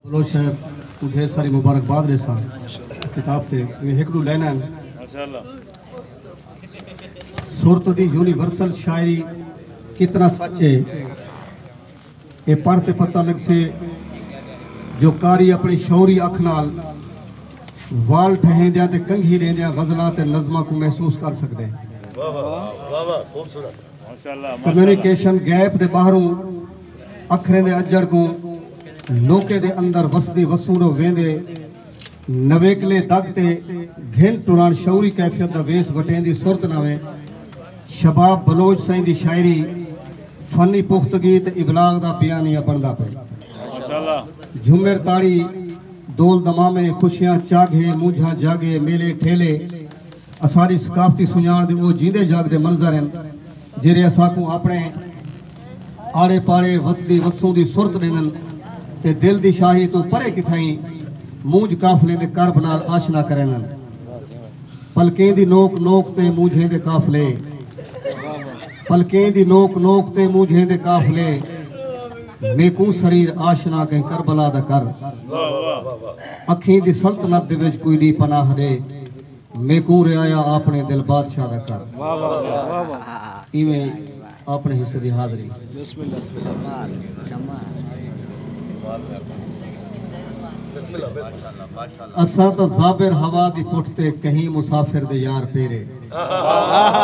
بلوچ صاحب کو ڈھیر ساری مبارکباد ڈیساں کتاب تے میں ہک دو لینا ماشاءاللہ صورت دی یونیورسل شاعری کتنا سچ ہے اے پڑھ تے پتہ لگ سے جو کاری اپنی شعوری اکھ نال وال ٹھہیندیاں تے کنگھی لیندیاں غزلاں تے نظماں کو محسوس کر سکدے واہ واہ واہ واہ خوبصورت کمیونیکیشن گیپ دے ٻاہروں اکھریں دے اجڑ کوں لوکیں دے اندر وسدی وسونو ویندے نویکلے دگ تے گھن ٹران شعوری کیفیت دا ویس وٹیں دی صورت نویں شباب بلوچ سائیں دی شاعری فنی پختگی تے ابلاغ دا بیانیہ بندا پے جھمر تاڑی دول دمامے خوشیاں چاگھے مونجھاں جاگے میلے ٹھیلے اساݙی ثقافتی سنڄاݨ دے او جیندے جاڳدے منظر ہن جیرھے اساکوں آپݨے آڑے پاڑے وسدی وسوندی سرت ݙیندن تے دل دی شاہی توں پرے کتھائیں مونجھ قافلیں دے کرب نال آشنا کریندن پلکیں دی نوک نوک تے مونجھیں دے قافلے پلکیں دی نوک نوک تے مونجھیں دے قافلے میکوں سریر آشنا کہیں کربلا دا کر اکھیں دی سلطنت دے وچ کوئی ݙی پناہ ݙے میکوں رعایا آپݨے دل بادشاہ دا کر ایویں آپݨے حصے دی حاضری بسم اللہ بسم اللہ بسم اللہ بسم اللہ اساں تاں زابر ہوا دی پٹھ تے کہیں مسافر دے یار پیرے